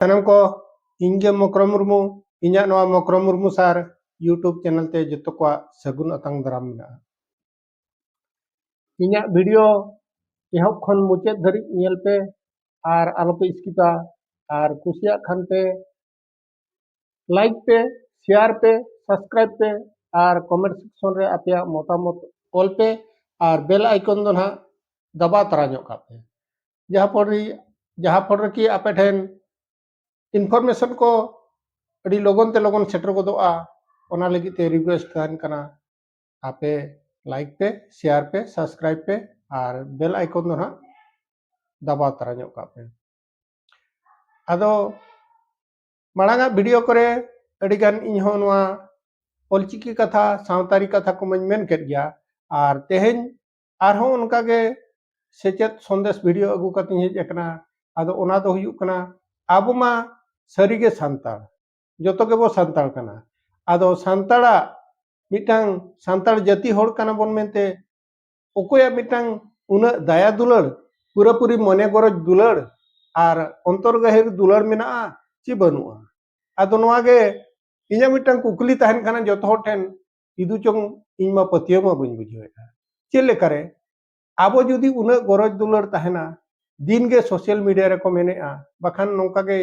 ᱥᱟᱱᱟᱢ ᱠᱚ ᱤᱧ ᱜᱮ ᱢᱚᱠᱨᱚ ᱢᱩᱨᱢᱩ ᱤᱧᱟᱹᱜ ᱱᱚᱣᱟ ᱢᱚᱠᱨᱚ ᱢᱩᱨᱢᱩ ᱥᱟᱨ ᱤᱭᱩᱴᱩᱵᱽ ᱪᱮᱱᱮᱞ ᱛᱮ ᱡᱚᱛᱚ ᱠᱚᱣᱟᱜ ᱥᱟᱹᱜᱩᱱ ᱟᱛᱟᱝ ᱫᱟᱨᱟᱢ ᱢᱮᱱᱟᱜᱼᱟ ᱤᱧᱟᱹᱜ ᱵᱷᱤᱰᱤᱭᱳ ᱮᱦᱚᱵ ᱠᱷᱚᱱ ᱢᱩᱪᱟᱹᱫ ᱫᱷᱟᱹᱨᱤᱡ ᱧᱮᱞ ᱯᱮ ᱟᱨ ᱟᱞᱚᱯᱮ ᱥᱠᱤᱯᱟ ᱟᱨ ᱠᱩᱥᱤᱭᱟᱜ ᱠᱷᱟᱱ ᱯᱮ ᱞᱟᱭᱤᱠ ᱯᱮ ᱥᱮᱭᱟᱨ ᱯᱮ ᱥᱟᱵᱥᱠᱨᱟᱭᱤᱵ ᱯᱮ ᱟᱨ ᱠᱚᱢᱮᱱᱴ ᱥᱮᱠᱥᱚᱱ ᱨᱮ ᱟᱯᱮᱭᱟᱜ ᱢᱚᱛᱟᱢᱚᱛ ᱚᱞ ᱯᱮ ᱟᱨ ᱵᱮᱞ ᱟᱭᱠᱚᱱ ᱫᱚ ᱱᱟᱦᱟᱜ ᱫᱟᱵᱟᱣ ᱛᱟᱨᱟ ᱧᱚᱜ ᱠᱟᱜ ᱯᱮ ᱡᱟᱦᱟᱸ ᱯᱷᱚᱞ ᱨᱮ ᱡᱟᱦᱟᱸ ᱯᱷᱚᱞ ᱨᱮᱠᱤ ᱟᱯᱮ ᱴᱷᱮᱱ ᱤᱱᱯᱷᱚᱨᱢᱮᱥᱚᱱ ᱠᱚ ᱟᱹᱰᱤ ᱞᱚᱜᱚᱱ ᱛᱮ ᱞᱚᱜᱚᱱ ᱥᱮᱴᱮᱨ ᱜᱚᱫᱚᱜᱼᱟ ᱚᱱᱟ ᱞᱟᱹᱜᱤᱫ ᱛᱮ ᱨᱤᱠᱩᱭᱮᱥᱴ ᱛᱟᱦᱮᱱ ᱠᱟᱱᱟ ᱟᱯᱮ ᱞᱟᱭᱤᱠ ᱯᱮ ᱥᱮᱭᱟᱨ ᱯᱮ ᱥᱟᱵᱥᱠᱨᱟᱭᱤᱵ ᱯᱮ ᱟᱨ ᱵᱮᱞ ᱟᱭᱠᱚᱱ ᱫᱚ ᱦᱟᱸᱜ ᱫᱟᱵᱟᱣ ᱛᱟᱨᱟ ᱧᱚᱜ ᱠᱟᱜ ᱯᱮ ᱟᱫᱚ ᱢᱟᱲᱟᱝᱟᱜ ᱵᱷᱤᱰᱤᱭᱳ ᱠᱚᱨᱮ ᱟᱹᱰᱤᱜᱟᱱ ᱤᱧᱦᱚᱸ ᱱᱚᱣᱟ ᱚᱞᱪᱤᱠᱤ ᱠᱟᱛᱷᱟ ᱥᱟᱶᱛᱟᱨᱤ ᱠᱟᱛᱷᱟ ᱠᱚᱢᱟᱹᱧ ᱢᱮᱱ ᱠᱮᱫ ᱜᱮᱭᱟ ᱟᱨ ᱛᱮᱦᱮᱧ ᱟᱨᱦᱚᱸ ᱚᱱᱠᱟ ᱜᱮ ᱥᱮᱪᱮᱫ ᱥᱚᱱᱫᱮᱥ ᱵᱷᱤᱰᱤᱭᱳ ᱟᱹᱜᱩ ᱠᱟᱛᱮᱧ ᱦᱮᱡ ᱟᱠᱟᱱᱟ ᱟᱫᱚ ᱚᱱᱟ ᱫᱚ ᱦᱩᱭᱩᱜ ᱠᱟᱱᱟ ᱟᱵᱚ ᱢᱟ ᱥᱟᱹᱨᱤᱜᱮ ᱥᱟᱱᱛᱟᱲ ᱡᱚᱛᱚ ᱜᱮᱵᱚ ᱥᱟᱱᱛᱟᱲ ᱠᱟᱱᱟ ᱟᱫᱚ ᱥᱟᱱᱛᱟᱲᱟᱜ ᱢᱤᱫᱴᱟᱝ ᱥᱟᱱᱛᱟᱲ ᱡᱟᱹᱛᱤ ᱦᱚᱲ ᱠᱟᱱᱟ ᱵᱚᱱ ᱢᱮᱱᱛᱮ ᱚᱠᱚᱭᱟᱜ ᱢᱤᱫᱴᱟᱝ ᱩᱱᱟᱹᱜ ᱫᱟᱭᱟ ᱫᱩᱞᱟᱹᱲ ᱯᱩᱨᱟᱹᱯᱩᱨᱤ ᱢᱚᱱᱮ ᱜᱚᱨᱚᱡᱽ ᱫᱩᱞᱟᱹᱲ ᱟᱨ ᱚᱱᱛᱚᱨ ᱜᱟᱹᱦᱤᱨ ᱫᱩᱞᱟᱹᱲ ᱢᱮᱱᱟᱜᱼᱟ ᱪᱮ ᱵᱟᱹᱱᱩᱜᱼᱟ ᱟᱫᱚ ᱱᱚᱣᱟ ᱜᱮ ᱤᱧᱟᱹᱜ ᱢᱤᱫᱴᱟᱝ ᱠᱩᱠᱞᱤ ᱛᱟᱦᱮᱱ ᱠᱟᱱᱟ ᱡᱚᱛᱚ ᱦᱚᱲ ᱴᱷᱮᱱ ᱠᱤᱫᱩ ᱪᱚᱝ ᱤᱧ ᱢᱟ ᱯᱟᱹᱛᱭᱟᱹᱣ ᱢᱟ ᱵᱟᱹᱧ ᱵᱩᱡᱷᱟᱹᱣᱮᱫᱼᱟ ᱪᱮᱫ ᱞᱮᱠᱟᱨᱮ ᱟᱵᱚ ᱡᱩᱫᱤ ᱩᱱᱟᱹᱜ ᱜᱚᱨᱚᱡᱽ ᱫᱩᱞᱟᱹᱲ ᱛᱟᱦᱮᱱᱟ ᱫᱤᱱ ᱜᱮ ᱥᱳᱥᱟᱞ ᱢᱤᱰᱤᱭᱟ ᱨᱮᱠᱚ ᱢᱮᱱᱮᱜᱼᱟ ᱵᱟᱠᱷᱟᱱ ᱱᱚᱝᱠᱟ ᱜᱮ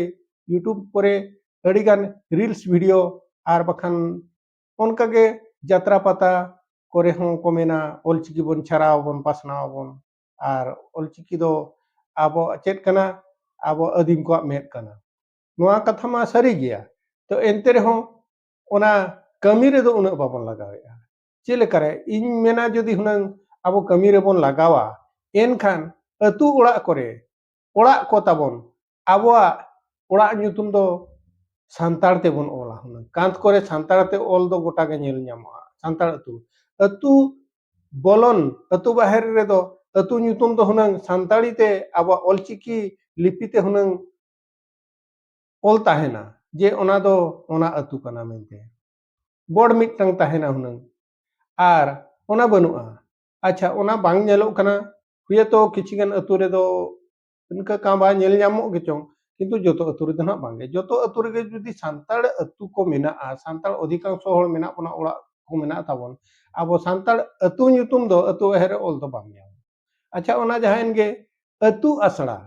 ᱤᱭᱩᱴᱩᱵᱽ ᱠᱚᱨᱮ ᱟᱹᱰᱤ ᱜᱟᱱ ᱨᱤᱞᱥ ᱵᱷᱤᱰᱤᱭᱳ ᱟᱨ ᱵᱟᱠᱷᱟᱱ ᱚᱱᱠᱟ ᱜᱮ ᱡᱟᱛᱨᱟ ᱯᱟᱛᱟ ᱠᱚᱨᱮ ᱦᱚᱸ ᱠᱚ ᱢᱮᱱᱟ ᱚᱞᱪᱤᱠᱤ ᱵᱚᱱ ᱪᱷᱟᱨᱟᱣ ᱟᱵᱚᱱ ᱯᱟᱥᱱᱟᱣ ᱟᱵᱚᱱ ᱟᱨ ᱚᱞᱪᱤᱠᱤ ᱫᱚ ᱟᱵᱚ ᱪᱮᱫ ᱠᱟᱱᱟ ᱟᱵᱚ ᱟᱹᱫᱤᱢ ᱠᱚᱣᱟᱜ ᱢᱮᱫ ᱠᱟᱱᱟ ᱱᱚᱣᱟ ᱠᱟᱛᱷᱟ ᱢᱟ ᱥᱟᱹᱨᱤ ᱜᱮᱭᱟ ᱛᱚ ᱮᱱᱛᱮ ᱨᱮᱦᱚᱸ ᱚᱱᱟ ᱠᱟᱹᱢᱤ ᱨᱮᱫᱚ ᱩᱱᱟᱹᱜ ᱵᱟᱵᱚᱱ ᱞᱟᱜᱟᱣᱮᱫᱼᱟ ᱪᱮᱫ ᱞᱮᱠᱟᱨᱮ ᱤᱧ ᱢᱮᱱᱟ ᱡᱩᱫᱤ ᱦᱩᱱᱟᱹᱝ ᱟᱵᱚ ᱠᱟᱹᱢᱤ ᱨᱮᱵᱚᱱ ᱞᱟᱜᱟᱣᱟ ᱮᱱᱠᱷᱟᱱ ᱟᱹᱛᱩ ᱚᱲᱟᱜ ᱠᱚᱨᱮ ᱚᱲᱟᱜ ᱠᱚ ᱛᱟᱵᱚᱱ ᱟᱵᱚᱣᱟᱜ ᱚᱲᱟᱜ ᱧᱩᱛᱩᱢ ᱫᱚ ᱥᱟᱱᱛᱟᱲ ᱛᱮᱵᱚᱱ ᱚᱞᱟ ᱦᱩᱱᱟᱹᱝ ᱠᱟᱸᱛ ᱠᱚᱨᱮ ᱥᱟᱱᱛᱟᱲ ᱛᱮ ᱚᱞ ᱫᱚ ᱜᱚᱴᱟ ᱜᱮ ᱧᱮᱞ ᱧᱟᱢᱚᱜᱼᱟ ᱥᱟᱱᱛᱟᱲ ᱟᱹᱛᱩ ᱟᱹᱛᱩ ᱵᱚᱞᱚᱱ ᱟᱹᱛᱩ ᱵᱟᱦᱮᱨ ᱨᱮᱫᱚ ᱟᱹᱛᱩ ᱧᱩᱛᱩᱢ ᱫᱚ ᱦᱩᱱᱟᱹᱝ ᱥᱟᱱᱛᱟᱲᱤ ᱛᱮ ᱟᱵᱚᱣᱟᱜ ᱚᱞᱪᱤᱠᱤ ᱞᱤᱯᱤ ᱛᱮ ᱦᱩᱱᱟᱹᱝ ᱚᱞ ᱛᱟᱦᱮᱱᱟ ᱡᱮ ᱚᱱᱟ ᱫᱚ ᱚᱱᱟ ᱟᱹᱛᱩ ᱠᱟᱱᱟ ᱢᱮᱱᱛᱮ ᱵᱳᱨᱰ ᱢᱤᱫᱴᱟᱝ ᱛᱟᱦᱮᱱᱟ ᱦᱩᱱᱟᱹᱝ ᱟᱨ ᱚᱱᱟ ᱵᱟᱹᱱᱩᱜᱼᱟ ᱟᱪᱪᱷᱟ ᱚᱱᱟ ᱵᱟᱝ ᱧᱮᱞᱚᱜ ᱠᱟᱱᱟ ᱦᱩᱭᱛᱚ ᱠᱤᱪᱷᱩ ᱜᱟᱱ ᱟᱹᱛᱩ ᱨᱮᱫᱚ ᱤᱱᱠᱟᱹ ᱠᱟᱸᱵᱟ ᱧᱮᱞ ᱧᱟᱢᱚᱜ ᱜᱮᱪᱚᱝ ᱠᱤᱱᱛᱩ ᱡᱚᱛᱚ ᱟᱹᱛᱩ ᱨᱮᱫᱚ ᱱᱟᱜ ᱵᱟᱝᱜᱮ ᱡᱚᱛᱚ ᱟᱹᱛᱩ ᱨᱮᱜᱮ ᱡᱩᱫᱤ ᱥᱟᱱᱛᱟᱲ ᱟᱹᱛᱩ ᱠᱚ ᱢᱮᱱᱟᱜᱼᱟ ᱥᱟᱱᱛᱟᱲ ᱚᱫᱷᱤᱠᱟᱝᱥᱚ ᱦᱚᱲ ᱢᱮᱱᱟᱜ ᱵᱚᱱᱟ ᱚᱲᱟᱜ ᱠᱚ ᱢᱮᱱᱟᱜ ᱛᱟᱵᱚᱱ ᱟᱵᱚ ᱥᱟᱱᱛᱟᱲ ᱟᱹᱛᱩ ᱧᱩᱛᱩᱢ ᱫᱚ ᱟᱹᱛᱩ ᱮᱦᱮᱨ ᱚᱞ ᱫᱚ ᱵᱟᱝ ᱧᱟᱢᱚᱜᱼᱟ ᱟᱪᱪᱷᱟ ᱚᱱᱟ ᱡᱟᱦᱟᱸᱭᱮᱱ ᱜᱮ ᱟᱹᱛᱩ ᱟᱥᱲᱟ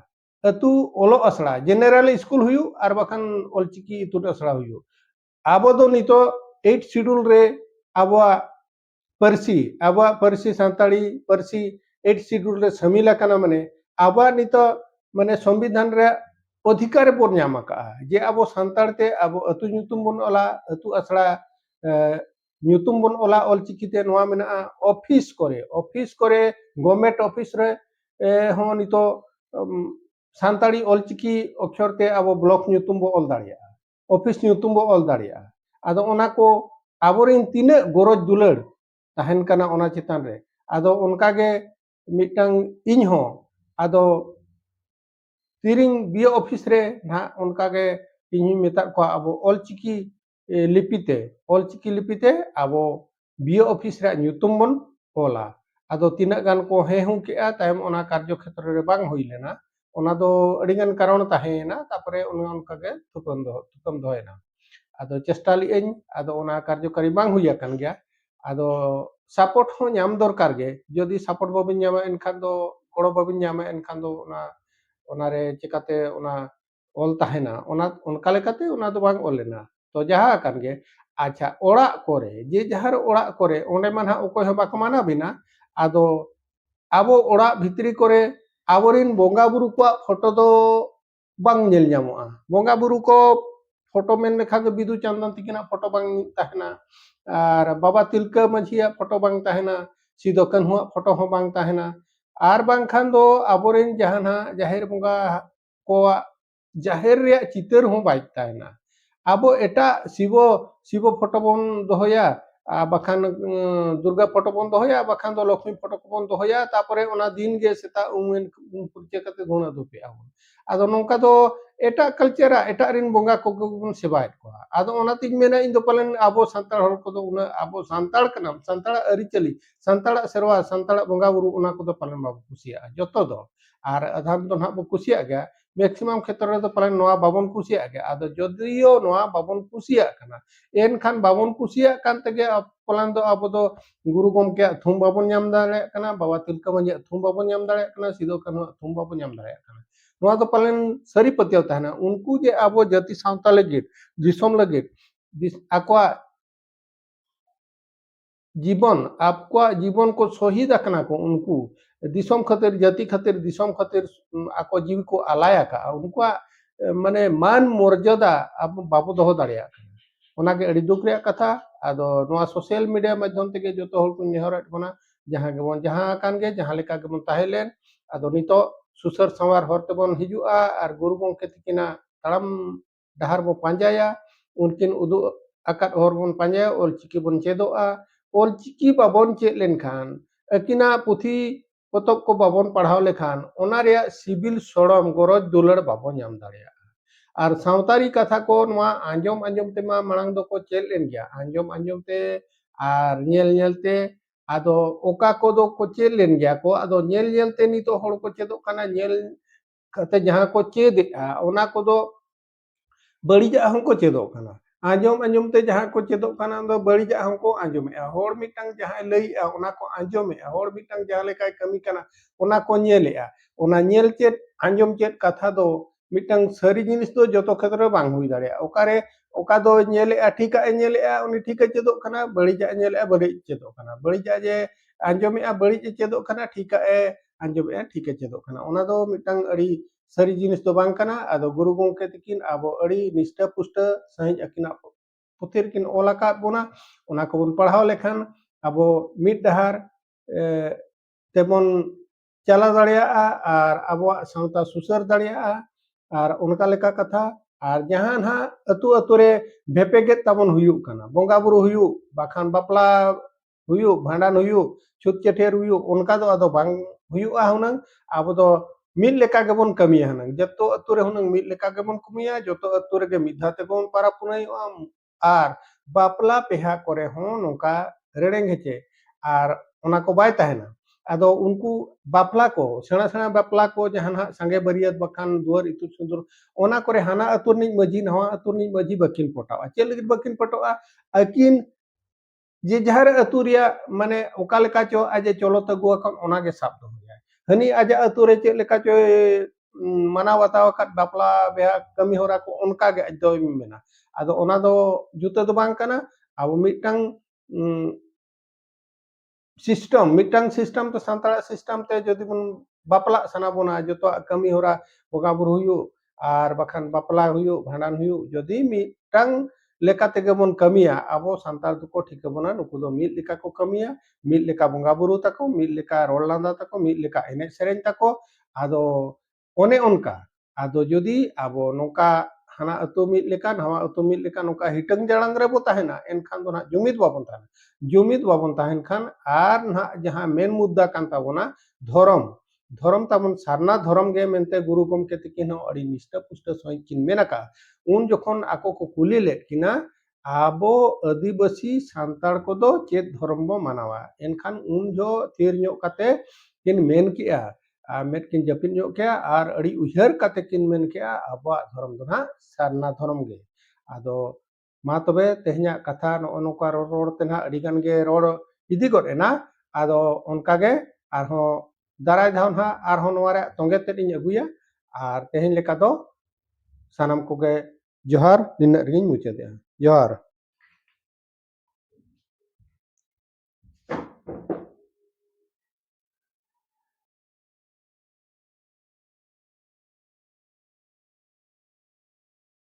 ᱟᱹᱛᱩ ᱚᱞᱚᱜ ᱟᱥᱲᱟ ᱡᱮᱱᱮᱨᱟᱞ ᱥᱠᱩᱞ ᱦᱩᱭᱩᱜ ᱟᱨ ᱵᱟᱠᱷᱟᱱ ᱚᱞᱪᱤᱠᱤ ᱤᱛᱩᱱ ᱟᱥᱲᱟ ᱦᱩᱭᱩᱜ ᱟᱵᱚ ᱫᱚ ᱱᱤᱛᱚᱜ ᱮᱭᱤᱴ ᱥᱤᱰᱩᱞ ᱨᱮ ᱟᱵᱚᱣᱟᱜ ᱯᱟᱹᱨᱥᱤ ᱟᱵᱚᱣᱟᱜ ᱯᱟᱹᱨᱥᱤ ᱥᱟᱱᱛᱟᱲᱤ ᱯᱟᱹᱨᱥᱤ ᱮᱭᱤᱴ ᱥᱤᱰᱩᱞ ᱨᱮ ᱥᱟᱹᱢᱤᱞ ᱟᱠᱟᱱᱟ ᱢᱟᱱᱮ ᱟᱵᱚᱣᱟᱜ ᱱᱤᱛᱚᱜ ᱢᱟᱱᱮ ᱥᱚᱝᱵᱤᱫᱷᱟᱱ ᱨᱮ ᱚᱫᱷᱤᱠᱟᱨ ᱵᱚᱱ ᱧᱟᱢ ᱟᱠᱟᱫᱼᱟ ᱡᱮ ᱟᱵᱚ ᱥᱟᱱᱛᱟᱲ ᱛᱮ ᱟᱵᱚ ᱟᱹᱛᱩ ᱧᱩᱛᱩᱢ ᱵᱚᱱ ᱚᱞᱟ ᱟᱹᱛᱩ ᱟᱥᱲᱟ ᱧᱩᱛᱩᱢ ᱵᱚᱱ ᱚᱞᱟ ᱚᱞᱪᱤᱠᱤᱛᱮ ᱱᱚᱣᱟ ᱢᱮᱱᱟᱜᱼᱟ ᱚᱯᱷᱤᱥ ᱠᱚᱨᱮ ᱚᱯᱷᱤᱥ ᱠᱚᱨᱮ ᱜᱚᱵᱷᱢᱮᱱᱴ ᱚᱯᱷᱤᱥ ᱨᱮ ᱦᱚᱸ ᱱᱤᱛᱚᱜ ᱥᱟᱱᱛᱟᱲᱤ ᱚᱞᱪᱤᱠᱤ ᱚᱠᱷᱚᱨ ᱛᱮ ᱟᱵᱚ ᱵᱞᱚᱠ ᱧᱩᱛᱩᱢ ᱵᱚ ᱚᱞ ᱫᱟᱲᱮᱭᱟᱜᱼᱟ ᱚᱯᱷᱤᱥ ᱧᱩᱛᱩᱢ ᱵᱚ ᱚᱞ ᱫᱟᱲᱮᱭᱟᱜᱼᱟ ᱟᱫᱚ ᱚᱱᱟ ᱠᱚ ᱟᱵᱚᱨᱮᱱ ᱛᱤᱱᱟᱹᱜ ᱜᱚᱨᱚᱡᱽ ᱫᱩᱞᱟᱹᱲ ᱛᱟᱦᱮᱱ ᱠᱟᱱᱟ ᱚᱱᱟ ᱪᱮᱛᱟᱱ ᱨᱮ ᱟᱫᱚ ᱚᱱᱠᱟᱜᱮ ᱢᱤᱫᱴᱟᱝ ᱤᱧ ᱦᱚᱸ ᱟᱫᱚ ᱛᱤᱨᱤᱧ ᱵᱤᱭᱮ ᱚᱯᱷᱤᱥ ᱨᱮ ᱱᱟᱦᱟᱜ ᱚᱱᱠᱟᱜᱮ ᱤᱧ ᱦᱚᱧ ᱢᱮᱛᱟᱫ ᱠᱚᱣᱟ ᱟᱵᱚ ᱚᱞᱪᱤᱠᱤ ᱞᱤᱯᱤᱛᱮ ᱚᱞᱪᱤᱠᱤ ᱞᱤᱯᱤᱛᱮ ᱟᱵᱚ ᱵᱤᱭᱳ ᱚᱯᱷᱤᱥ ᱨᱮᱭᱟᱜ ᱧᱩᱛᱩᱢ ᱵᱚᱱ ᱚᱞᱟ ᱟᱫᱚ ᱛᱤᱱᱟᱹᱜ ᱜᱟᱱ ᱠᱚ ᱦᱮᱸ ᱦᱩᱸ ᱠᱮᱜᱼᱟ ᱛᱟᱭᱚᱢ ᱚᱱᱟ ᱠᱟᱨᱡᱚ ᱠᱷᱮᱛᱨᱚ ᱨᱮ ᱵᱟᱝ ᱦᱩᱭ ᱞᱮᱱᱟ ᱚᱱᱟ ᱫᱚ ᱟᱹᱰᱤ ᱜᱟᱱ ᱠᱟᱨᱚᱱ ᱛᱟᱦᱮᱸᱭᱮᱱᱟ ᱛᱟᱯᱚᱨᱮ ᱚᱱᱮ ᱚᱱᱠᱟ ᱜᱮ ᱛᱷᱩᱠᱟᱹᱢ ᱫᱚᱦᱚ ᱛᱷᱩᱠᱟᱹᱢ ᱫᱚᱦᱚᱭᱮᱱᱟ ᱟᱫᱚ ᱪᱮᱥᱴᱟ ᱞᱮᱜᱼᱟᱹᱧ ᱟᱫᱚ ᱚᱱᱟ ᱠᱟᱨᱡᱚᱠᱟᱨᱤ ᱵᱟᱝ ᱦᱩᱭ ᱟᱠᱟᱱ ᱜᱮᱭᱟ ᱟᱫᱚ ᱥᱟᱯᱳᱨᱴ ᱦᱚᱸ ᱧᱟᱢ ᱫᱚᱨᱠᱟᱨ ᱜᱮ ᱡᱩᱫᱤ ᱥᱟᱯᱳᱨᱴ ᱵᱟᱵᱤᱱ ᱧᱟᱢᱟ ᱮᱱᱠᱷᱟᱱ ᱫᱚ ᱜᱚᱲᱚ ᱵᱟᱵᱤᱱ ᱧᱟᱢᱟ ᱮᱱᱠᱷᱟᱱ ᱫᱚ ᱚᱱᱟ ᱚᱱᱟᱨᱮ ᱪᱮᱠᱟᱛᱮ ᱚᱱᱟ ᱚᱞ ᱛᱟᱦᱮᱱᱟ ᱚᱱᱟ ᱚᱱᱠᱟ ᱞᱮᱠᱟᱛᱮ ᱚᱱᱟ ᱫᱚ ᱵᱟᱝ ᱚᱞ ᱞᱮᱱᱟ ᱛᱚ ᱡᱟᱦᱟᱸ ᱟᱠᱟᱱ ᱜᱮ ᱟᱪᱪᱷᱟ ᱚᱲᱟᱜ ᱠᱚᱨᱮ ᱡᱮ ᱡᱟᱦᱟᱨ ᱚᱲᱟᱜ ᱠᱚᱨᱮ ᱚᱸᱰᱮ ᱢᱟ ᱱᱟᱦᱟᱜ ᱚᱠᱚᱭ ᱦᱚᱸ ᱵᱟᱠᱚ ᱢᱟᱱᱟᱣ ᱵᱤᱱᱟ ᱟᱫᱚ ᱟᱵᱚ ᱚᱲᱟᱜ ᱵᱷᱤᱛᱨᱤ ᱠᱚᱨᱮ ᱟᱵᱚᱨᱮᱱ ᱵᱚᱸᱜᱟ ᱵᱩᱨᱩ ᱠᱚᱣᱟᱜ ᱯᱷᱳᱴᱳ ᱫᱚ ᱵᱟᱝ ᱧᱮᱞ ᱧᱟᱢᱚᱜᱼᱟ ᱵᱚᱸᱜᱟ ᱵᱩᱨᱩ ᱠᱚ ᱯᱷᱳᱴᱳ ᱢᱮᱱ ᱞᱮᱠᱷᱟᱱ ᱫᱚ ᱵᱤᱫᱩ ᱪᱟᱸᱫᱟᱱ ᱛᱤᱠᱤᱱᱟᱜ ᱯᱷᱳᱴᱳ ᱵᱟᱝ ᱛᱟᱦᱮᱱᱟ ᱟᱨ ᱵᱟᱵᱟ ᱛᱤᱞᱠᱟᱹ ᱢᱟᱹᱡᱷᱤᱭᱟᱜ ᱯᱷᱳᱴᱳ ᱵᱟᱝ ᱛᱟᱦᱮᱱᱟ ᱥᱤᱫᱚ ᱠᱟᱹᱱᱦᱩᱣᱟᱜ ᱯᱷᱳᱴᱳ ᱦᱚᱸ ᱵᱟᱝ ᱛᱟᱦᱮᱱᱟ ᱟᱨ ᱵᱟᱝᱠᱷᱟᱱ ᱫᱚ ᱟᱵᱚᱨᱮᱱ ᱡᱟᱦᱟᱱᱟᱜ ᱡᱟᱦᱮᱨ ᱵᱚᱸᱜᱟ ᱠᱚᱣᱟᱜ ᱡᱟᱦᱮᱨ ᱨᱮᱭᱟᱜ ᱪᱤᱛᱟᱹᱨ ᱦᱚᱸ ᱵᱟᱭ ᱛᱟᱦᱮᱱᱟ ᱟᱵᱚ ᱮᱴᱟᱜ ᱥᱤᱵᱚ ᱥᱤᱵᱚ ᱯᱷᱳᱴᱳ ᱵᱚᱱ ᱫᱚᱦᱚᱭᱟ ᱵᱟᱠᱷᱟᱱ ᱫᱩᱨᱜᱟ ᱯᱷᱳᱴᱳ ᱵᱚᱱ ᱫᱚᱦᱚᱭᱟ ᱵᱟᱠᱷᱟᱱ ᱫᱚ ᱞᱚᱠᱷᱢᱤ ᱯᱷᱳᱴᱳ ᱠᱚᱵᱚᱱ ᱫᱚᱦᱚᱭᱟ ᱛᱟᱯᱚᱨᱮ ᱚᱱᱟ ᱫᱤᱱ ᱜᱮ ᱥᱮᱛᱟᱜ ᱩᱢ ᱩᱢ ᱯᱷᱩᱨᱪᱟᱹ ᱠᱟᱛᱮ ᱜᱩᱬ ᱟᱫᱚᱯᱮᱜᱼᱟ ᱵᱚᱱ ᱟᱫᱚ ᱱᱚᱝᱠᱟ ᱫᱚ ᱮᱴᱟᱜ ᱠᱟᱞᱪᱟᱨᱟᱜ ᱮᱴᱟᱜ ᱨᱮᱱ ᱵᱚᱸᱜᱟ ᱠᱚᱜᱮ ᱵᱚᱱ ᱥᱮᱵᱟᱭᱮᱫ ᱠᱚᱣᱟ ᱟᱫᱚ ᱚᱱᱟᱛᱤᱧ ᱢᱮᱱᱟ ᱤᱧ ᱫᱚ ᱯᱟᱞᱮᱱ ᱟᱵᱚ ᱥᱟᱱᱛᱟᱲ ᱦᱚᱲ ᱠᱚᱫᱚ ᱩᱱᱟᱹᱜ ᱟᱵᱚ ᱥᱟᱱᱛᱟᱲ ᱠᱟᱱᱟᱢ ᱥᱟᱱᱛᱟᱲᱟᱜ ᱟᱹᱨᱤᱪᱟᱹᱞᱤ ᱥᱟᱱᱛᱟᱲᱟᱜ ᱥᱮᱨᱣᱟ ᱥᱟᱱᱛᱟᱲᱟᱜ ᱵᱚᱸᱜᱟ ᱵᱩᱨᱩ ᱚᱱᱟ ᱠᱚᱫᱚ ᱯᱟᱞᱮᱱ ᱵᱟᱵᱚ ᱠᱩᱥᱤᱭᱟᱜᱼᱟ ᱡᱚᱛᱚ ᱫᱚ ᱟᱨ ᱟᱫᱷᱟᱱ ᱫᱚ ᱱᱟᱦᱟᱜ ᱵᱚ ᱠᱩᱥᱤᱭᱟᱜ ᱜᱮᱭᱟ ᱢᱮᱠᱥᱤᱢᱟᱢ ᱠᱷᱮᱛᱨᱚ ᱨᱮᱫᱚ ᱯᱟᱞᱮᱱ ᱱᱚᱣᱟ ᱵᱟᱵᱚᱱ ᱠᱩᱥᱤᱭᱟᱜ ᱜᱮᱭᱟ ᱟᱫᱚ ᱡᱚᱫᱤᱭᱳ ᱱᱚᱣᱟ ᱵᱟᱵᱚᱱ ᱠᱩᱥᱤᱭᱟᱜ ᱠᱟᱱᱟ ᱮᱱᱠᱷᱟᱱ ᱵᱟᱵᱚᱱ ᱠᱩᱥᱤᱭᱟᱜ ᱠᱟᱱ ᱛᱮᱜᱮ ᱯᱟᱞᱮᱱ ᱫᱚ ᱟᱵᱚ ᱫᱚ ᱜᱩᱨᱩ ᱜᱚᱢᱠᱮᱭᱟᱜ ᱛᱷᱩᱢ ᱵᱟᱵᱚᱱ ᱧᱟᱢ ᱫᱟᱲᱮᱭᱟᱜ ᱠᱟᱱᱟ ᱵᱟᱵᱟ ᱛᱤᱞᱠᱟᱹ ᱢᱟᱹᱡᱷᱤᱭᱟᱜ ᱛᱷᱩᱢ ᱵᱟᱵᱚᱱ ᱧᱟᱢ ᱫᱟᱲᱮᱭᱟᱜ ᱠᱟᱱᱟ ᱥᱤᱫᱩ ᱠᱟᱹᱱᱦᱩᱣᱟᱜ ᱛᱷᱩᱢ ᱵᱟᱵᱚᱱ ᱧᱟᱢ ᱫᱟᱲᱮᱭᱟᱜ ᱠᱟᱱᱟ ᱱᱚᱣᱟ ᱫᱚ ᱯᱟᱞᱮᱱ ᱥᱟᱹᱨᱤ ᱯᱟᱹᱛᱭᱟᱹᱣ ᱛᱟᱦᱮᱱᱟ ᱩᱱᱠᱩ ᱡᱮ ᱟᱵᱚ ᱡᱟᱹᱛᱤ ᱥᱟᱶᱛᱟ ᱞᱟᱹᱜᱤᱫ ᱫᱤᱥᱚᱢ ᱞᱟᱹᱜᱤᱫ ᱟᱠᱚᱣᱟᱜ ᱡᱤᱵᱚᱱ ᱟᱠᱚᱣᱟᱜ ᱡᱤᱵᱚᱱ ᱠᱚ ᱥᱚᱦᱤᱫ ᱟᱠᱟᱱᱟ ᱠᱚ ᱩᱱᱠᱩ ᱫᱤᱥᱚᱢ ᱠᱷᱟᱹᱛᱤᱨ ᱡᱟᱹᱛᱤ ᱠᱷᱟᱹᱛᱤᱨ ᱫᱤᱥᱚᱢ ᱠᱷᱟᱹᱛᱤᱨ ᱟᱠᱚ ᱡᱤᱣᱤ ᱠᱚ ᱟᱞᱟᱭ ᱟᱠᱟᱜᱼᱟ ᱩᱱᱠᱩᱣᱟᱜ ᱢᱟᱱᱮ ᱢᱟᱱ ᱢᱚᱨᱡᱟᱫᱟ ᱟᱵᱚ ᱵᱟᱵᱚ ᱫᱚᱦᱚ ᱫᱟᱲᱮᱭᱟᱜ ᱠᱟᱱᱟ ᱚᱱᱟᱜᱮ ᱟᱹᱰᱤ ᱫᱩᱠ ᱨᱮᱭᱟᱜ ᱠᱟᱛᱷᱟ ᱟᱫᱚ ᱱᱚᱣᱟ ᱥᱳᱥᱟᱞ ᱢᱤᱰᱤᱭᱟ ᱢᱟᱫᱽᱫᱷᱚᱢ ᱛᱮᱜᱮ ᱡᱚᱛᱚ ᱦᱚᱲ ᱠᱚᱧ ᱱᱮᱦᱚᱨᱮᱫ ᱵᱚᱱᱟ ᱡᱟᱦᱟᱸ ᱜᱮᱵᱚᱱ ᱡᱟᱦᱟᱸ ᱟᱠᱟᱱ ᱜᱮ ᱡᱟᱦᱟᱸ ᱞᱮᱠᱟ ᱜᱮᱵᱚᱱ ᱛᱟᱦᱮᱸ ᱞᱮᱱ ᱟᱫᱚ ᱱᱤᱛᱚᱜ ᱥᱩᱥᱟᱹᱨ ᱥᱟᱶᱟᱨ ᱦᱚᱨ ᱛᱮᱵᱚᱱ ᱦᱤᱡᱩᱜᱼᱟ ᱟᱨ ᱜᱩᱨᱩ ᱜᱚᱢᱠᱮ ᱛᱤᱠᱤᱱᱟᱜ ᱛᱟᱲᱟᱢ ᱰᱟᱦᱟᱨ ᱵᱚ ᱯᱟᱸᱡᱟᱭᱟ ᱩᱱᱠᱤᱱ ᱩᱫᱩᱜ ᱟᱠᱟᱫ ᱦᱚᱨ ᱵᱚᱱ ᱯᱟᱸᱡᱟᱭᱟ ᱚᱞ ᱪᱤᱠᱤ ᱵᱚᱱ ᱪᱮᱫᱚᱜᱼᱟ ᱚᱞ ᱪᱤᱠᱤ ᱵᱟᱵᱚᱱ ᱪᱮᱫ ᱞᱮᱱᱠᱷᱟᱱ ᱟᱹᱠᱤᱱᱟᱜ ᱯᱩᱛᱷᱤ ᱯᱚᱛᱚᱵ ᱠᱚ ᱵᱟᱵᱚᱱ ᱯᱟᱲᱦᱟᱣ ᱞᱮᱠᱷᱟᱱ ᱚᱱᱟ ᱨᱮᱭᱟᱜ ᱥᱤᱵᱤᱞ ᱥᱚᱲᱚᱢ ᱜᱚᱨᱚᱡᱽ ᱫᱩᱞᱟᱹᱲ ᱵᱟᱵᱚᱱ ᱧᱟᱢ ᱫᱟᱲᱮᱭᱟᱜᱼᱟ ᱟᱨ ᱥᱟᱶᱛᱟᱨᱤ ᱠᱟᱛᱷᱟ ᱠᱚ ᱱᱚᱣᱟ ᱟᱸᱡᱚᱢ ᱟᱸᱡᱚᱢ ᱛᱮᱢᱟ ᱢᱟᱲᱟᱝ ᱫᱚᱠᱚ ᱪᱮᱫ ᱞᱮᱱ ᱜᱮᱭᱟ ᱟᱸᱡᱚᱢ ᱟᱸᱡᱚᱢ ᱛᱮ ᱟᱨ ᱧᱮᱞ ᱧᱮᱞ ᱛᱮ ᱟᱫᱚ ᱚᱠᱟ ᱠᱚᱫᱚ ᱠᱚ ᱪᱮᱫ ᱞᱮᱱ ᱜᱮᱭᱟ ᱠᱚ ᱟᱫᱚ ᱧᱮᱞ ᱧᱮᱞ ᱛᱮ ᱱᱤᱛᱚᱜ ᱦᱚᱲ ᱠᱚ ᱪᱮᱫᱚᱜ ᱠᱟᱱᱟ ᱧᱮᱞ ᱠᱟᱛᱮ ᱡᱟᱦᱟᱸ ᱠᱚ ᱪᱮᱫᱮᱜᱼᱟ ᱚᱱᱟ ᱠᱚᱫᱚ ᱵᱟᱹᱲᱤᱡᱟᱜ ᱦᱚᱸᱠᱚ ᱪᱮᱫᱚᱜ ᱠᱟᱱᱟ ᱟᱸᱡᱚᱢ ᱟᱸᱡᱚᱢ ᱛᱮ ᱡᱟᱦᱟᱸ ᱠᱚ ᱪᱮᱫᱚᱜ ᱠᱟᱱᱟ ᱚᱱᱟ ᱫᱚ ᱵᱟᱹᱲᱤᱡᱟᱜ ᱦᱚᱸᱠᱚ ᱟᱸᱡᱚᱢᱮᱜᱼᱟ ᱦᱚᱲ ᱢᱤᱫᱴᱟᱝ ᱡᱟᱦᱟᱸᱭ ᱞᱟᱹᱭᱮᱜᱼᱟ ᱚᱱᱟ ᱠᱚ ᱟᱸᱡᱚᱢᱮᱜᱼᱟ ᱦᱚᱲ ᱢᱤᱫᱴᱟᱝ ᱡᱟᱦᱟᱸ ᱞᱮᱠᱟᱭ ᱠᱟᱹᱢᱤ ᱠᱟᱱᱟ ᱚᱱᱟ ᱠᱚ ᱧᱮᱞᱮᱜᱼᱟ ᱚᱱᱟ ᱧᱮᱞ ᱪᱮᱫ ᱟᱸᱡᱚᱢ ᱪᱮᱫ ᱠᱟᱛᱷᱟ ᱫᱚ ᱢᱤᱫᱴᱟᱝ ᱥᱟᱹᱨᱤ ᱡᱤᱱᱤᱥ ᱫᱚ ᱡᱚᱛᱚ ᱠᱷᱮᱛᱨᱮ ᱵᱟᱝ ᱦᱩᱭ ᱫᱟᱲᱮᱭᱟᱜᱼᱟ ᱚᱠᱟᱨᱮ ᱚᱠᱟ ᱫᱚ ᱧᱮᱞᱮᱜᱼᱟ ᱴᱷᱤᱠᱟᱜ ᱮ ᱧᱮᱞᱮᱜᱼᱟ ᱩᱱᱤ ᱴᱷᱤᱠᱮ ᱪᱮᱫᱚᱜ ᱠᱟᱱᱟ ᱵᱟᱹᱲᱤᱡᱟᱜ ᱮ ᱧᱮᱞᱮᱜᱼᱟ ᱵᱟᱹᱲᱤᱡ ᱪᱮᱫᱚᱜ ᱠᱟᱱᱟ ᱵᱟᱹᱲᱤᱡᱟᱜ ᱡᱮ ᱟᱸᱡᱚᱢᱮᱜᱼᱟ ᱵᱟᱹᱲᱤᱡ ᱮ ᱪᱮᱫᱚᱜ ᱠᱟᱱᱟ ᱴᱷᱤᱠᱟᱜ ᱮ ᱟᱸᱡᱚᱢᱮᱜᱼᱟ ᱴᱷᱤᱠ ᱮ ᱪᱮᱫᱚᱜ ᱠᱟᱱᱟ ᱚᱱᱟ ᱫᱚ ᱢᱤᱫᱴᱟᱝ ᱟᱹᱰᱤ ᱥᱟᱹᱨᱤ ᱡᱤᱱᱤᱥ ᱫᱚ ᱵᱟᱝ ᱠᱟᱱᱟ ᱟᱫᱚ ᱜᱩᱨᱩ ᱜᱚᱢᱠᱮ ᱛᱤᱠᱤᱱ ᱟᱵᱚ ᱟᱹᱰᱤ ᱱᱤᱥᱴᱟᱹ ᱯᱩᱥᱴᱟᱹ ᱥᱟᱺᱦᱤᱡ ᱟᱹᱠᱤᱱᱟᱜ ᱯᱩᱛᱷᱤ ᱨᱮᱠᱤᱱ ᱚᱞ ᱟᱠᱟᱫ ᱵᱚᱱᱟ ᱚᱱᱟ ᱠᱚᱵᱚᱱ ᱯᱟᱲᱦᱟᱣ ᱞᱮᱠᱷᱟᱱ ᱟᱵᱚ ᱢᱤᱫ ᱰᱟᱦᱟᱨ ᱛᱮᱵᱚᱱ ᱪᱟᱞᱟᱣ ᱫᱟᱲᱮᱭᱟᱜᱼᱟ ᱟᱨ ᱟᱵᱚᱣᱟᱜ ᱥᱟᱶᱛᱟ ᱥᱩᱥᱟᱹᱨ ᱫᱟᱲᱮᱭᱟᱜᱼᱟ ᱟᱨ ᱚᱱᱠᱟ ᱞᱮᱠᱟ ᱠᱟᱛᱷᱟ ᱟᱨ ᱡᱟᱦᱟᱸ ᱱᱟᱦᱟᱜ ᱟᱹᱛᱩ ᱟᱹᱛᱩ ᱨᱮ ᱵᱷᱮᱯᱮᱜᱮᱫ ᱛᱟᱵᱚᱱ ᱦᱩᱭᱩᱜ ᱠᱟᱱᱟ ᱵᱚᱸᱜᱟ ᱵᱩᱨᱩ ᱦᱩᱭᱩᱜ ᱵᱟᱠᱷᱟᱱ ᱵᱟᱯᱞᱟ ᱦᱩᱭᱩᱜ ᱵᱷᱟᱸᱰᱟᱱ ᱦᱩᱭᱩᱜ ᱪᱷᱩᱛ ᱪᱟᱹᱴᱭᱟᱹᱨ ᱦᱩᱭᱩᱜ ᱚᱱᱠᱟ ᱫᱚ ᱟᱫᱚ ᱵᱟᱝ ᱦᱩᱭᱩᱜᱼᱟ ᱦᱩᱱᱟᱹᱝ ᱟᱵᱚ ᱫᱚ ᱢᱤᱫ ᱞᱮᱠᱟ ᱜᱮᱵᱚᱱ ᱠᱟᱹᱢᱤᱭᱟ ᱦᱩᱱᱟᱹᱝ ᱡᱚᱛᱚ ᱟᱹᱛᱩ ᱨᱮ ᱦᱩᱱᱟᱹᱝ ᱢᱤᱫ ᱞᱮᱠᱟ ᱜᱮᱵᱚᱱ ᱠᱟᱹᱢᱤᱭᱟ ᱡᱚᱛᱚ ᱟᱹᱛᱩ ᱨᱮᱜᱮ ᱢᱤᱫ ᱫᱷᱟᱣ ᱛᱮᱵᱚᱱ ᱯᱟᱨᱟᱵᱽ ᱯᱩᱱᱟᱹᱭᱚᱜᱼᱟ ᱟᱨ ᱵᱟᱯᱞᱟ ᱯᱮᱦᱟ ᱠᱚᱨᱮ ᱦᱚᱸ ᱱᱚᱝᱠᱟ ᱨᱮᱲᱮᱝ ᱦᱮᱪᱮ ᱟᱨ ᱚᱱᱟ ᱠᱚ ᱵᱟᱭ ᱛᱟᱦᱮᱱᱟ ᱟᱫᱚ ᱩᱱᱠᱩ ᱵᱟᱯᱞᱟ ᱠᱚ ᱥᱮᱬᱟ ᱥᱮᱬᱟ ᱵᱟᱯᱞᱟ ᱠᱚ ᱡᱟᱦᱟᱸ ᱱᱟᱦᱟᱜ ᱥᱟᱸᱜᱮ ᱵᱟᱹᱨᱭᱟᱹᱛ ᱵᱟᱠᱷᱟᱱ ᱫᱩᱣᱟᱹᱨ ᱤᱛᱩᱫ ᱥᱤᱸᱫᱩᱨ ᱚᱱᱟ ᱠᱚᱨᱮ ᱦᱟᱱᱟ ᱟᱹᱛᱩ ᱨᱤᱱᱤᱡ ᱢᱟᱹᱡᱷᱤ ᱱᱟᱣᱟ ᱟᱹᱛᱩ ᱨᱤᱱᱤᱡ ᱢᱟᱹᱡᱷᱤ ᱵᱟᱹᱠᱤᱱ ᱯᱚᱴᱟᱜᱼᱟ ᱪᱮᱫ ᱞᱟᱹᱜᱤᱫ ᱵᱟᱹᱠᱤᱱ ᱯᱚᱴᱟᱜᱼᱟ ᱟᱹᱠᱤᱱ ᱡᱮ ᱡᱟᱦᱟᱨ ᱟᱹᱛᱩ ᱨᱮᱭᱟᱜ ᱢᱟᱱᱮ ᱚᱠᱟ ᱞᱮᱠᱟ ᱪᱚ ᱟᱡ ᱮ ᱪᱚᱞᱚᱛ ᱟᱹᱜᱩ ᱟᱠᱟᱱ ᱚᱱᱟ ᱜᱮ ᱥᱟᱵ ᱫᱚᱦᱚᱭᱟᱭ ᱦᱟᱹᱱᱤ ᱟᱡᱟᱜ ᱟᱹᱛᱩ ᱨᱮ ᱪᱮᱫ ᱞᱮᱠᱟ ᱪᱚ ᱢᱟᱱᱟᱣ ᱵᱟᱛᱟᱣ ᱟᱠᱟᱫ ᱵᱟᱯᱞᱟ ᱵᱤᱦᱟ ᱠᱟᱹᱢᱤ ᱦᱚᱨᱟ ᱠᱚ ᱚᱱᱠᱟ ᱜᱮ ᱟᱡ ᱫᱚᱭ ᱢᱮᱱᱟ ᱟᱫᱚ ᱚᱱᱟ ᱫᱚ ᱡᱩᱛᱟᱹ ᱫᱚ ᱵᱟᱝ ᱠᱟᱱᱟ ᱟᱵᱚ ᱢᱤᱫᱴᱟᱝ ᱥᱤᱥᱴᱮᱢ ᱢᱤᱫᱴᱟᱝ ᱥᱤᱥᱴᱮᱢ ᱛᱮ ᱥᱟᱱᱛᱟᱲᱟᱜ ᱥᱤᱥᱴᱮᱢ ᱛᱮ ᱡᱩᱫᱤ ᱵᱚᱱ ᱵᱟᱯᱞᱟᱜ ᱥᱟᱱᱟ ᱵᱚᱱᱟ ᱡᱚᱛᱚᱣᱟᱜ ᱠᱟᱹᱢᱤ ᱦᱚᱨᱟ ᱵᱚᱸᱜᱟ ᱵᱩᱨᱩ ᱦᱩᱭᱩᱜ ᱟᱨ ᱵᱟᱠᱷᱟᱱ ᱵᱟᱯᱞᱟ ᱦᱩᱭᱩᱜ ᱵᱷᱟᱸᱰᱟᱱ ᱦᱩᱭᱩᱜ ᱡᱩᱫᱤ ᱢᱤᱫᱴᱟᱝ ᱞᱮᱠᱟ ᱛᱮᱜᱮ ᱵᱚᱱ ᱠᱟᱹᱢᱤᱭᱟ ᱟᱵᱚ ᱥᱟᱱᱛᱟᱲ ᱫᱚᱠᱚ ᱴᱷᱤᱠᱟᱹ ᱵᱚᱱᱟ ᱱᱩᱠᱩ ᱫᱚ ᱢᱤᱫ ᱞᱮᱠᱟ ᱠᱚ ᱠᱟᱹᱢᱤᱭᱟ ᱢᱤᱫ ᱞᱮᱠᱟ ᱵᱚᱸᱜᱟ ᱵᱩᱨᱩ ᱛᱟᱠᱚ ᱢᱤᱫ ᱞᱮᱠᱟ ᱨᱚᱲ ᱞᱟᱸᱫᱟ ᱛᱟᱠᱚ ᱢᱤᱫ ᱞᱮᱠᱟ ᱮᱱᱮᱡ ᱥᱮᱨᱮᱧ ᱛᱟᱠᱚ ᱟᱫᱚ ᱚᱱᱮ ᱚᱱᱠᱟ ᱟᱫᱚ ᱡᱩᱫᱤ ᱟᱵᱚ ᱱᱚᱝᱠᱟ ᱦᱟᱱᱟ ᱟᱹᱛᱩ ᱢᱤᱫ ᱞᱮᱠᱟ ᱱᱟᱣᱟ ᱟᱹᱛᱩ ᱢᱤᱫ ᱞᱮᱠᱟ ᱱᱚᱝᱠᱟ ᱦᱤᱴᱟᱹᱝ ᱡᱟᱲᱟᱝ ᱨᱮᱵᱚ ᱛᱟᱦᱮᱱᱟ ᱮᱱᱠᱷᱟᱱ ᱫᱚ ᱱᱟᱦᱟᱜ ᱡᱩᱢᱤᱫ ᱵᱟᱵᱚᱱ ᱛᱟᱦᱮᱱᱟ ᱡᱩᱢᱤᱫ ᱵᱟᱵᱚᱱ ᱛᱟᱦᱮᱱ ᱠᱷᱟᱱ ᱟᱨ ᱱᱟᱦᱟᱜ ᱡᱟᱦᱟᱸ ᱢᱮᱱ ᱢᱩᱫᱽᱫᱟ ᱠᱟᱱ ᱛᱟᱵᱚᱱᱟ ᱫᱷᱚᱨᱚᱢ ᱫᱷᱚᱨᱚᱢ ᱛᱟᱵᱚᱱ ᱥᱟᱨᱱᱟ ᱫᱷᱚᱨᱚᱢ ᱜᱮ ᱢᱮᱱᱛᱮ ᱜᱩᱨᱩ ᱜᱚᱢᱠᱮ ᱛᱤᱠᱤᱱ ᱦᱚᱸ ᱟᱹᱰᱤ ᱱᱤᱥᱴᱟᱹ ᱯᱩᱥᱴᱟᱹ ᱥᱟᱺᱦᱤᱡ ᱠᱤᱱ ᱢᱮᱱ ᱟᱠᱟᱫᱼᱟ ᱩᱱ ᱡᱚᱠᱷᱚᱱ ᱟᱠᱚ ᱠᱚ ᱠᱩᱞᱤ ᱞᱮᱫ ᱠᱤᱱᱟ ᱟᱵᱚ ᱟᱹᱫᱤᱵᱟᱹᱥᱤ ᱥᱟᱱᱛᱟᱲ ᱠᱚᱫᱚ ᱪᱮᱫ ᱫᱷᱚᱨᱚᱢ ᱵᱚ ᱢᱟᱱᱟᱣᱟ ᱮᱱᱠᱷᱟᱱ ᱩᱱ ᱡᱚ ᱛᱷᱤᱨ ᱧᱚᱜ ᱠᱟᱛᱮ ᱠᱤᱱ ᱢᱮᱱ ᱠᱮᱜᱼᱟ ᱟᱨ ᱢᱮᱫ ᱠᱤᱱ ᱡᱟᱹᱯᱤᱫ ᱧᱚᱜ ᱠᱮᱜᱼᱟ ᱟᱨ ᱟᱹᱰᱤ ᱩᱭᱦᱟᱹᱨ ᱠᱟᱛᱮ ᱠᱤᱱ ᱢᱮᱱ ᱠᱮᱜᱼᱟ ᱟᱵᱚᱣᱟᱜ ᱫᱷᱚᱨᱚᱢ ᱫᱚ ᱱᱟᱦᱟᱜ ᱥᱟᱨᱱᱟ ᱫᱷᱚᱨᱚᱢ ᱜᱮ ᱟᱫᱚ ᱢᱟ ᱛᱚᱵᱮ ᱛᱮᱦᱮᱧᱟᱜ ᱠᱟᱛᱷᱟ ᱱᱚᱜᱼᱚ ᱱᱚᱝᱠᱟ ᱨᱚᱲ ᱨᱚᱲ ᱛᱮ ᱱᱟᱦᱟᱜ ᱟᱹᱰᱤ ᱜᱟᱱ ᱜᱮ ᱨᱚᱲ ᱤᱫᱤ ᱜᱚᱫ ᱮᱱᱟ ᱟᱫᱚ ᱚᱱᱠᱟ ᱜᱮ ᱟᱨᱦᱚᱸ ᱫᱟᱨᱟᱭ ᱫᱷᱟᱣ ᱱᱟᱦᱟᱜ ᱟᱨᱦᱚᱸ ᱱᱚᱣᱟ ᱨᱮᱭᱟᱜ ᱛᱚᱸᱜᱮ ᱛᱮᱫ ᱤᱧ ᱟᱹᱜᱩᱭᱟ ᱟᱨ ᱛᱮᱦᱮᱧ ᱞᱮᱠᱟ ᱫᱚ ᱥᱟᱱᱟᱢ ᱠᱚᱜᱮ ᱡᱚᱦᱟᱨ ᱱᱤᱱᱟᱹᱜ ᱨᱮᱜᱤᱧ ᱢᱩᱪᱟᱹᱫᱮᱜᱼᱟ ᱡᱚᱦᱟᱨ